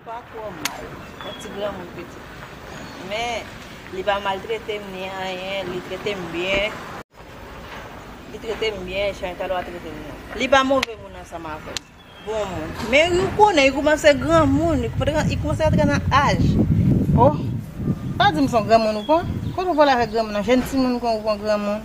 Pako mal. Yon ti granmoun pitit. Men li pa maltrete m ni anyen, li trete m byen. Li trete m byen jan li ta dwa trete m nan. Li pa move moun ansanm avè m. Bon moun. Men ou konnen li koumanse granmoun, li koumanse rantre nan aj. Oh! Pa di m son granmoun ou pran. Kote ou vole avèk granmoun nan? Jenn timoun kon ou pran granmoun.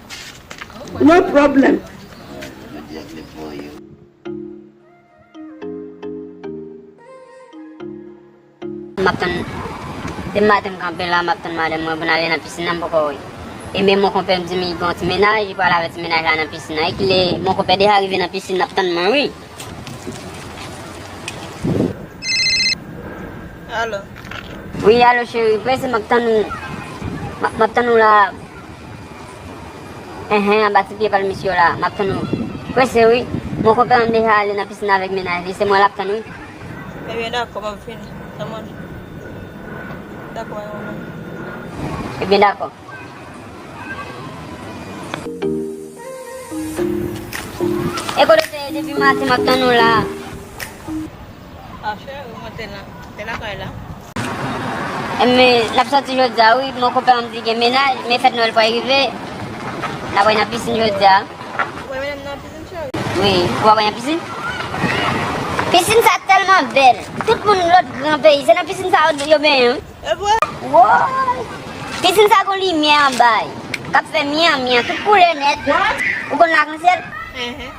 No problem. Map tann Depi maten m kanpe la map tann madanm mwen pou n ale nan piscine nan m poko wè e men mon konpè m di m li gen yon ti mennaj li pral avè ti mennaj la nan piscine nan e ki lè mon konpè deja rive nan piscine nap tann mwen wi. Wi alo cheri prese map tann ou map tann ou la. Enhen anba ti pye pal misye yo la map tann ou prese wi mon konpè an deja ale nan piscine avek mennaj li se mwen lap tann wi. Ebyen dakò map vini nan manje dakò a yon lè. Ebyen dakò. E kote w te ye depi maten map tann ou la. Pafè wi mwen te la, te lakay la. Eme nap soti jodia wi mon konpè an di gen menaj men fèt nwèl pral rive nap ale nan pisin jodia. Ou pral metem nan pisin cheri? Wi ou pral nan pisin? Pisin sa tèlman bèl tout moun lòt gran peyi se nan pisin sa yo benyen wi. Evre? Woy pisin sa gon limyè anba li kap fè myan myan tout koulè nèt ou konn lakansyèl?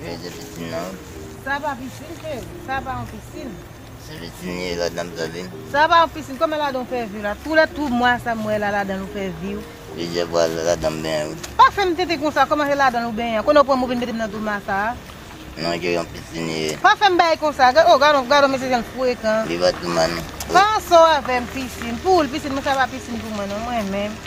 Jwen de pisin nan. Sa pa pisin cheri, sa pa yon pisin. Se pisin li ye ladan m tande. Sa pa yon pisin, kòman ladan w fè vi la? Twou lè twou mwa sa m wè la ladan l ou fè vi w. Plizyè fwa ladan m benyen wi. Pa fè m tenten konsa, kòman se ladan l ou benyen an? Konnen w pran m ou vin mete m nan twou mwa sa a? Non cheri yon pisin li ye. Pa fè m bay konsa, oh gadon, gadon mesye jan l frekan. Li pa twou mwa non. Pa an sò avè m pisin, pou ou l pisin men sa pa pisin pou mwen non, mwen menm.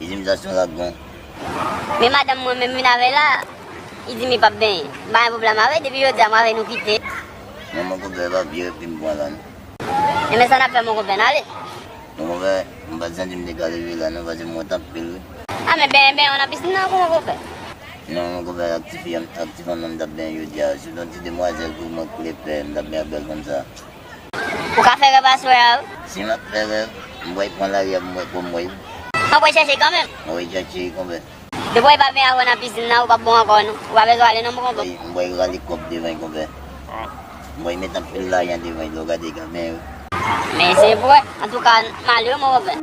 Izim sa son lòt bon. Men madanm mwen menm vin avè la izimi pap benyen m pa gen problèm avè depi jodi a m avè nou kite. Nan mon konpè epa vye epi m pran la non. Enben sa nap fè mon konpè nale. Mon konpè m pat santi m te ka leve la non pase m wont anpil wi. A men benyen benyen w nan piscine nan kou mon konpè. Non mon konpè ak ti fi ak ti fanm nan m tap benyen jodi a se ton ti demwazèl kou mwen koule pè m tap benyen ak bèl fanm sa. Ou ka fè rèv aswè a wi. Si map fè rèv, m bwè pran lari m bwè konbwè wi. Map bwè chèche kanmenm. Map bwè chèche konbwè. Depi w pa byen avè w nan pisinn nan, ou pap bon ankò non. Ou pa bezwen ale non konbwè. M bwè rale kòb devan konbwè. M bwè met anpil lajan devan dlo gade kanmen wi. M eseye bwè. Antouka, m ale wi mon konbwè.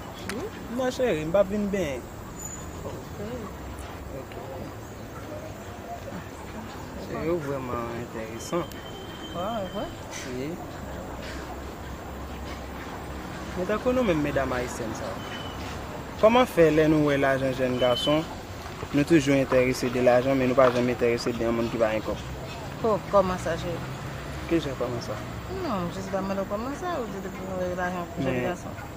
Non cheri m pap vin benyen. Cheri ou vreman enteresan. Men tankou nou menm medam ayisyenn sa yo. Koman fe le nou we lajan jen gason nou toujou enterese de lajan men nou pa janm enterese de yon moun ki pa gen kob. Ho koman sa cheri. Kijan koman sa. Non m jis ba mande w koman sa ou di depi nou we lajan jen gason.